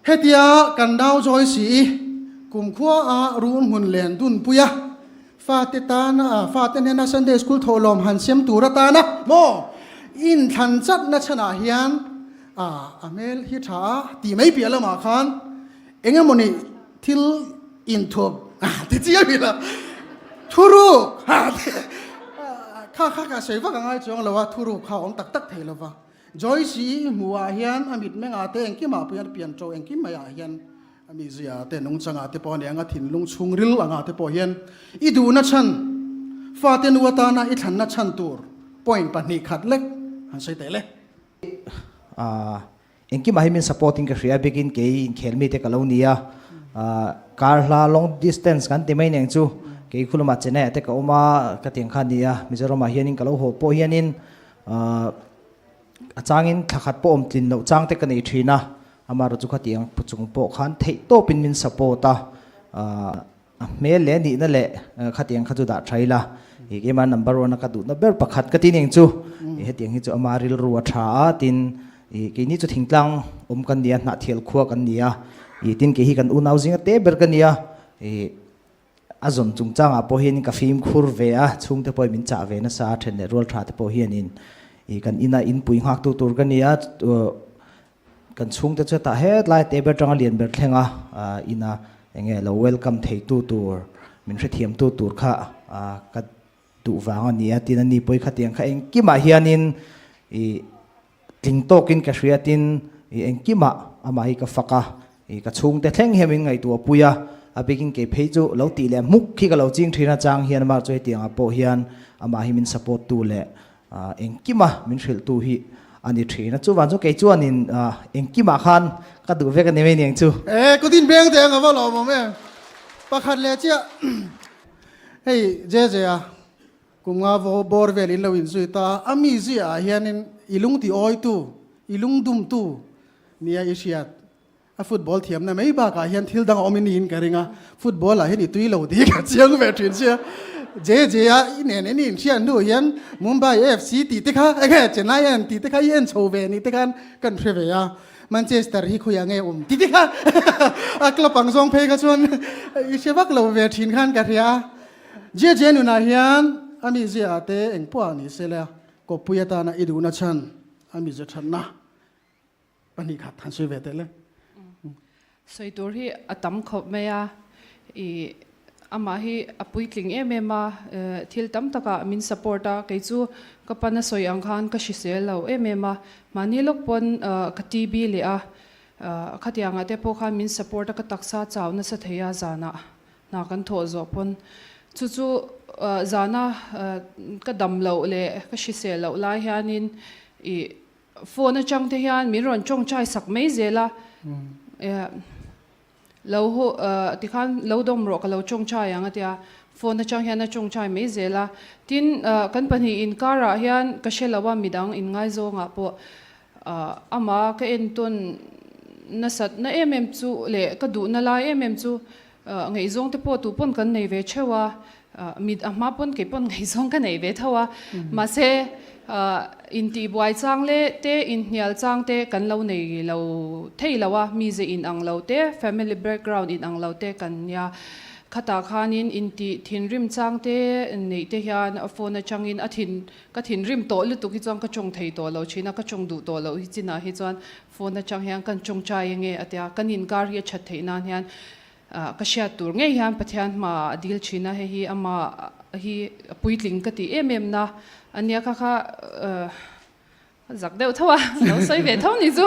Hetia kan dau zawi si i kumkhua a run hmun len dun pui a, fate tan a fate hnena Sunday School thawh lawm han siam tur atan a maw in thlan chatna chhan ah hian a a hmel hi tha a ti mai piah lam ah khan eng emaw ni thil in thup ti chi a hrilh a thuruk kha kha ka sawi vak angai chuang lo a thuruk kha awm tak tak thei lo va. Joyce i hmuhah hian a mit mengah te engkimah pawh hian pian to engkim maiah hian a mihzia te nung changah te pawh a ni ang a, thinlung chhungril angah te pawh hian i duhna chhan, fate nu atana i thlanna chhan tur point pahnih khat lek han sawi teh le. Aah, engkimah hian min support in ka hria bikin kei inkhel mite ka lo ni a, aah kar hla long distance kan ti mai nen chu kei khulama Chennai-ah te ka awm a, ka tiang kha a ni a, Mizoramah hianin ka lo hawh pawh hianin A changin thla khat pawh awm tlin loh chang te ka nei thin a, Amara chu khatiang pu chung pawh khan theih tawpin min support a, a hmel leh nihna leh khatiang kha chu dah tha ila, Kma number one a ka duhna ber pakhat ka ti ning chu, hetiang hi chu ama rilru a tha a, tin keini chu thingtlang awm kan nia, hnah thial khua kan nia, tin kei hi kan unau zinga te ber ka nia, A zawn chungchangah pawhin ka fimkhur ve a, chhungte pawhin min chah ve nasa a, then leh rual thate pawh hianin i kan ina in pui nghaktu tur ka ni a, kan chhungte chuan tah het lai te ber tanga lian ber thleng a, ina enge lo welcome theitu tur min hrethiamtu tur kha ka duh vang a nia tin a ni pawi kha tiang kha engkimah hianin i tling tawkin ka hria tin i engkimah amah hi ka fak a, i ka chhungte thleng hian min ngaihtuah a pui a, a bikin kei phei chu lo tih leh hmuk khi ka lo ching thin achang hian amah chu hetiangah pawh hian amah hi min support tu leh engkima min hrilh tu hi a ni thin a, chuvang chu kei chuan in engkimah khan ka duh vek a ni mai niang chu. Ee, ka din beng teh ang, ka va lawmawm em? Pakhat leh chiah. Hei JJ a, kunga bawr vel in lo inzui ta a, a mi ziah ah hianin i lungti awitu, i lung dumtu nia i hriat. A football thiamna mai bakah hian thil dang a awm i niin ka ring a, football ah hian i tui lo tih ka chiang ve thin sia. JJ a, i nen i nih hriat hnu hian Mumbai FC tih te kha, enge Chennai an tih te kha i en chho ve a nih te khan ka an hre ve a. Manchester hi khawiah nge awm titi kha a club ang zawng phei kha chuan i hre vak lo ve thin khan ka hria a. JJ nunah hian a mizia te eng pawh a ni sela Kawppui atana i duhna chhan a mizia thatna pahnih khat han sawi ve tehleng. Sawi tur hi a tam khawp mai a, i amah hi a puitling em em a, thil tam taka min support a, kei chu ka pana sawi ang khan ka hrisel lo em em a, mahni lawk pawn ka TB leh a, khatiang ah te pawh khan min support a, ka taksa chau nasa thei a zan ah hna kan thawh zawh pawn, chu chu zan a ka dam loh leh ka hrisel loh lai hian in i Phone atang te hian min rawn tawng chai sak mai zel a, lo ho ti khan lo dawm rawh ka lo tawng chai ang a ti a, phone atang hian a tawng chai mai zel a, tin kan pahnih in kar ah hian ka hre lo a midang in ngai zawng ah pawh ama ka entawn nasat na em em chu leh ka duh na lai em em chu A ngaihzawng te pawh tupawn kan nei ve theuh a, mit a hma pawn kei pawn ngaihzawng ka nei ve tho a, mahse intihbuai chang leh te inhnial chang te kan lo nei lo thei lo a, mi ze in ang lo te, family background in ang lo te kan nia. Khatah khanin intih thinrim chang te neih te hian phone atangin a thin ka thinrim tawh lutuk hi chuan ka tawng thei tawh lo thin a, ka tawng duh tawh loh hi chinah hi chuan Phone atang hian kan ṭawngṭai enge a ti a, kan inkar hi a ṭhat theih nan hian ka hriat tur ngei hian Pathian hmaah a dil ṭhin a, hei hi amah hi a puitling ka tih em em na ania ka kha zak deuh tho a, ka lo sawi ve tho ni chu.